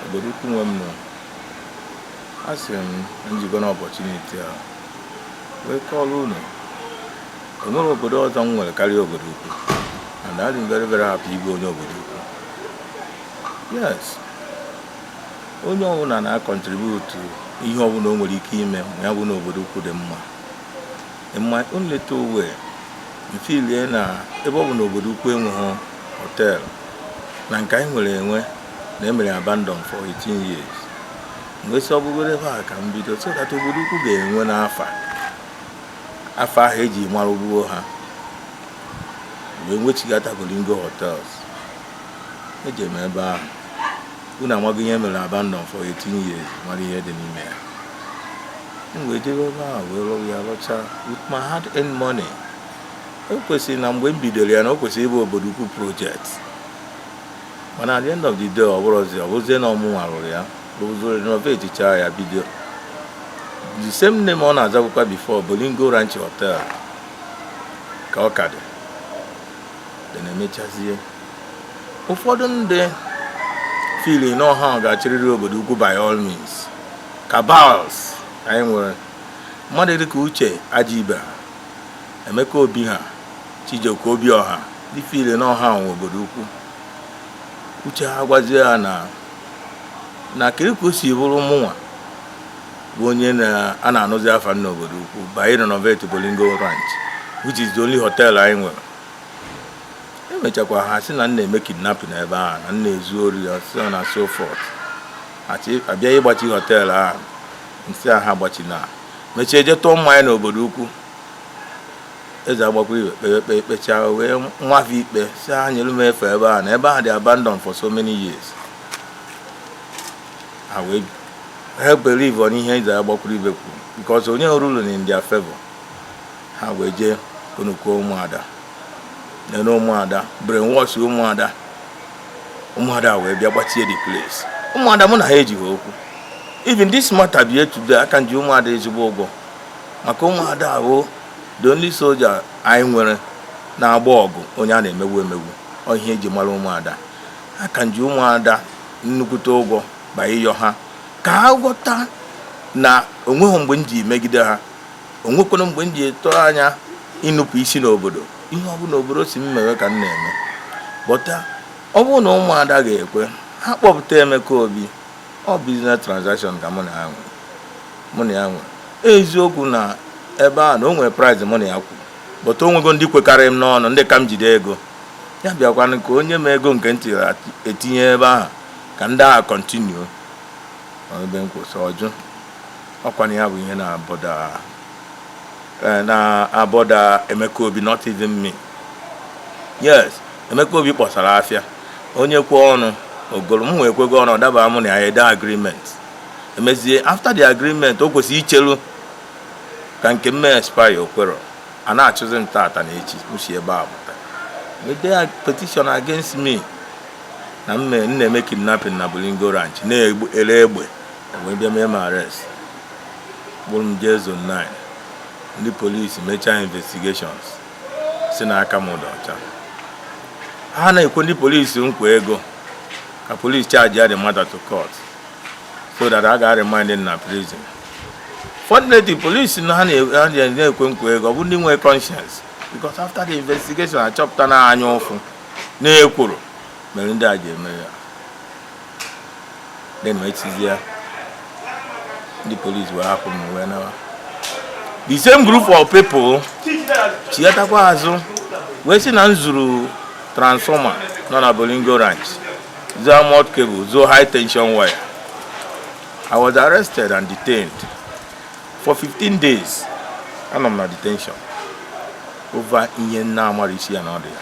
obodo ukwu nwe m nọ a sị m na njikọ na opportunity a wee kọọrọ unu enwere obodo ọzọ m nwere karịa obodo ukwu and adị m very very happy ịbụ onye obodo ukwu yes onye ọbụla na-acontribute ihe ọbụla o nwere ike ime ma ya bụ na obodo ukwu dị mma in my own little way m feelie na ebe ọ bụ na obodo ukwu enweghị hotel na nke anyị nwere enwe na emere abandon for 18 years m wee sị ọbụgoro ebe a ka m bido so that obodo ukwu ga-enwe n'afa afa ahụ eji mara gboo ha wee nwechigata Bolingo hotels eji m ebe ahụ unu amaghị ihe e mere abandon for 18 years mara ihe dị n'ime ya m wee jebe ebe ahụ wee rụọ ya rụchaa with my hard earned money o kwesịrị na mgbe m bidoro ya na o kwesịrị ịbụ obodo ukwu project mana at the end of the day ọ bụrụzi ọ bụrụzie na ọ mụnwa rụrụ ya rụzuru renovate chaa ya bido the same name ọ na-azabụkwa before Bolingo Ranch Hotel ka ọ ka dị then emechazie ụfọdụ ndị feel na ọ ha ga-achịrịrị obodo ukwu by all means cabals anyị nwere mmadụ dịka Uche Ajibe ha Emeka Obi ha Chijioke Obiọha ndị feel na ọ ha nwe obodo ukwu uche ha gwazie ha na na kiri ka o si bụrụ mụnwa bụ onye a na-anụzi afa n'obodo ukwu by renovate Bolingo Ranch which is the only hotel anyị nwere emechakwa ha sị na m na-eme kidnapping ebe ahụ na m na-ezu ori and so on and so forth abịa ịgbachi hotel ahụ m sị ha agbachina mechie je tụọ mmanya n'obodo ukwu eze Agbakwuruibe kpere ikpe kpechaa o wee nwafe ikpe sị ha nyere m efe ebe a na ebe ahụ dị abandon for so many years ha enweha believe on ihe eze Agbakwuruibe kwuru because o nyehụ ruling in their favor ha wee jee konukuo ụmụada nene ụmụada brainwash ụmụada ụmụada wee bịa gbachie the place ụmụada mụ na ha ejighị okwu even this matter bie today aka m ji ụmụada ezigbo ụgwọ maka ụmụada bụ the only soldier anyị nwere na-agba ọgụ onye a na-emegbu emegbu ọ ihe eji mara ụmụada aka m ji ụmụada nnukwute ụgwọ bịa ịyọ ha ka ha ghọta na onweghị mgbe m ji megide ha onwekwanụ mgbe m ji tụrụ anya ịnupụ isi n'obodo ihe ọ bụla obodo sị m mewe ka m na-eme but ọ bụrụ na ụmụada ga-ekwe ha kpọpụta Emeka Obi ọ business transaction ka mụ na ya nwere mụ na ya nwere eziokwu na ebe a na o nwere price mụ na ya kwuru but o nwego ndị kwekarị m n'ọnụ ndị ka m jide ego ya bịakwanụ ka o nye m ego nke m ti etinye ebe ahụ ka ndị ahụ continue ebe m kwụsị ọ jụ ọ kwanụ ya bụ ihe na-abother eh, na-abother Emeka Obi not even me yes Emeka Obi kpọsara afịa onye kwe ọnụ o goro m wee kwego ọnụ ọ daba mụ na ya ede agreement e mezie after the agreement o kwesịrị ichelu ka nke m mee expire o kwerọ a na-achụzi m tata na echi m si ebe a pụta e dee petition against me na m na-eme kidnapping na Bolingo Ranch na-ele egbe wee bịa mee m arrest kpụrụ m jee Zone 9 ndị polisi mechaa investigations si na aka m dị ọcha ha na-ekwe ndị polisi nkwa ego ka polisi charge ya the matter to court so that a ga-aremand m na prison fortunately polisi na ha na-ekwe nkwa ego ọ bụ ndị nwee conscience because after the investigation a chọpụta na anya ụfụ na ekworo mere ndị a ji eme ya then e mechazia ndị polisi wee hapụ m wee nawa the same group of people chighatakwa azụ wee sị na m zuru transformer nọ na Bolingo Ranch zuo armoured cable zuo high tension wire i was arrested and detained for 15 days anọ m na detention over ihe m na-amarọ isi ya na ọdụ ya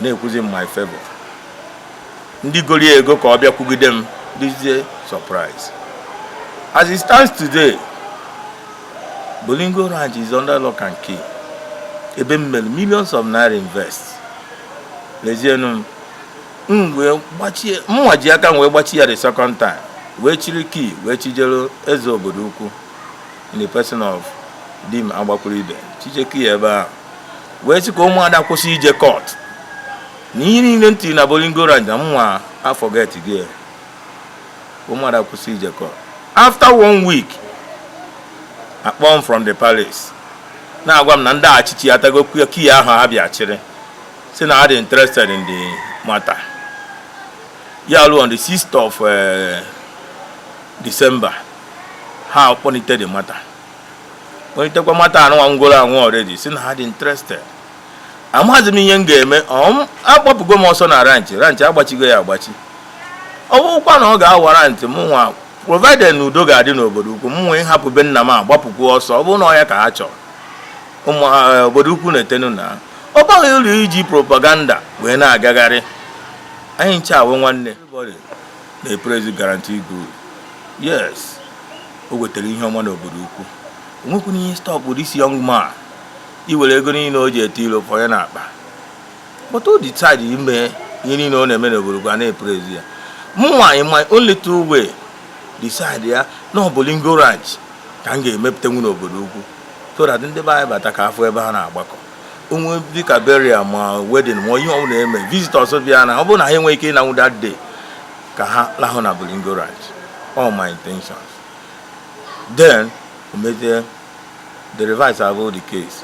na-ekwuzi in my favor ndị goro ya ego ka ọ bịa kwugide m dịzie surprise as it stands today Bolingo Ranch is under lock and key ebe m mere millions of naira invest lezienu m wee gbachie mụnwa ji aka m wee gbachi ya the second time wee chịrị key wee chijere eze Obodoukwu in the person of Dim Agbakwuru Ibe chije key ebe ahụ wee sị ka ụmụada kwụsị ije court na ihe niile m tiri na Bolingo Ranch na mụnwa aforgetgo ya ụmụada kwụsị ije court after one week a kpọọ m from the palace na-agwa m na ndị achịchị atago key ahụ ha bịa chịrị si na ha dị interested in the matter ya luo on the 6th of eh, December ha kpọlite the matter kpọlitekwa matter anụnwa nwụgoro anwụ already si na ha dị interested amaghịzi m ihe m ga-eme agbapụgo m ọsọ na ranch ranch agbachigo ya agbachi ọ bụrụkwa na ọ ga-awarrant mụnwa provided na udo ga-adị n'obodo ukwu m nwee hapụ be nna m agbapụkwu ọsọ ọ bụrụ na ọ ya ka ha chọrọ ụmụ eh, obodo ukwu na-etenu na ọ baghị uru iji propaganda wee na-agagharị anyị ncha wụ nwanne na-epraise guarantee group yes o wetere ihe ọma n'obodo ukwu o nwekwuru ihe stop this young man iwere ego niile o ji ete ilo fọ ya n'akpa but o decide ime ihe niile ọ na-eme n'obodo ukwu a na-epraise ya mụnwa in my own little way decide ya na ọ Bolingo Ranch ka m ga-emepụtanwu n'obodo ukwu so that ndị be anyị bata ka a fụ ebe ha na-agbakọ onwe dịka burial ma wedding ma ihe ọbụla eme visitors bịa na ọ bụrụ na ha enweghị ike ịnanwu that day ka ha lahụ na Bolingo Ranch all my intentions then emezie the reverse abụ the case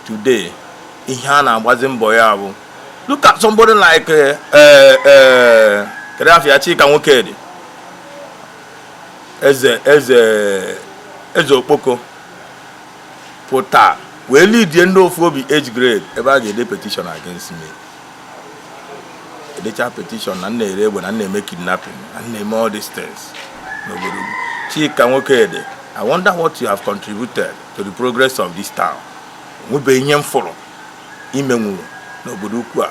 today ihe a na-agbazi mbọ ya bụ look at somebody like eh, eh, eh, kedu afa ya Chika Nwokedi eze eze eze okpoko pụta wee leadie ndị ofu obi age grade ebe a ga-ede petition against me edecha petition na m na-ere egbe na m na-eme kidnapping na m na-eme all these things n'obodo Chika Nwokedi I wonder what you have contributed to the progress of this town nwebe ihe m fụrụ i menwuru n'obodo ukwu a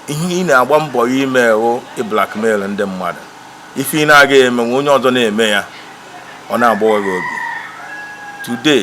ihe ị na-agba mbọ ya ime wụ ịblackmail ndị mmadụ ife ị na-aga emenwu onye ọzọ na-eme ya ọ na-agbawa gị obi today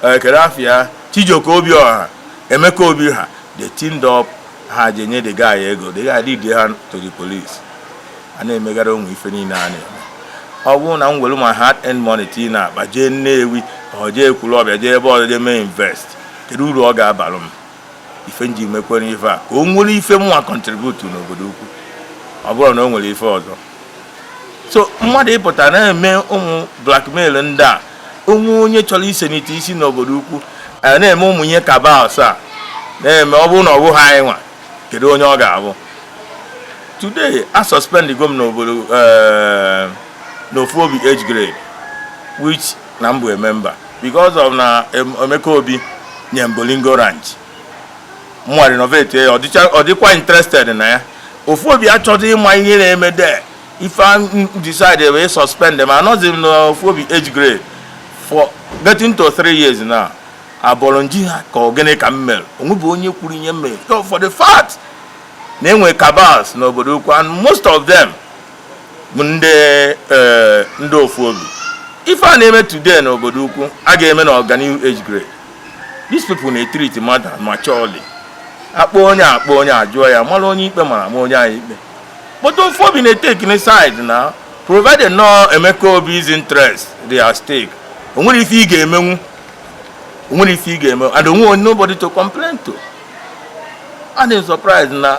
kedu eh, afa ya Chijioke Obiọha Emeka Obi ha they teamed up ha jee nye the guy ego the guy lead ha to the police a na-emegara onwe ife niile a na-eme ọ bụrụ na m were my hard earned money tii na akpa jee Nnewi ọ jee Ekwulọbịa jee ebe ọzọ jee mee invest kedu uru ọ ga-abalụ m ife m ji mekwere ife a ka o nwere ife mụnwa contribute n'obodo ukwu ọ bụrọ na o nwere ife ọzọ so mmadụ ịpụta na-eme ụmụ blackmail ndị a o nwee onye chọrọ isenite isi n'obodo ukwu a na-eme ụmụ ihe cabals a na-eme ọ bụrụ na ọ bụghị anyị nwa kedu onye ọ ga-abụ today a suspend go m n'obodo eh, n'ofu obi age grade which na m bụ a member because of na Emeka Obi nye m Bolingo Ranch mụwa renovate ya ọ dịkwa interested na ya ofu obi achọghị ịma ihe na-eme there ife decide wee suspend m anọzi m n'ofu obi age grade for getting to three years now abọrọ m jụọ ha ka ọ gịnị ka m mere o nwebe onye kwuru ihe m mere for the fact na enwe cabals n'obodo ukwu and most of them bụ ndị eh, ndị ofu obi ife a na-eme today na obodo ukwu a ga-eme na ọganihu age grade these people na-etiriti mmadụ maturely a kpọọ onye a kpọọ onye a jụọ ya mara onye ikpe mara ma onye anyị ikpe but ofu obi na-etekini side na provided na Emeka Obi's interest dị at stake o nwere ife ị ga-emenwu o nwere ife ị ga-emenwu and o nwe nobody to complain to adị m surprise na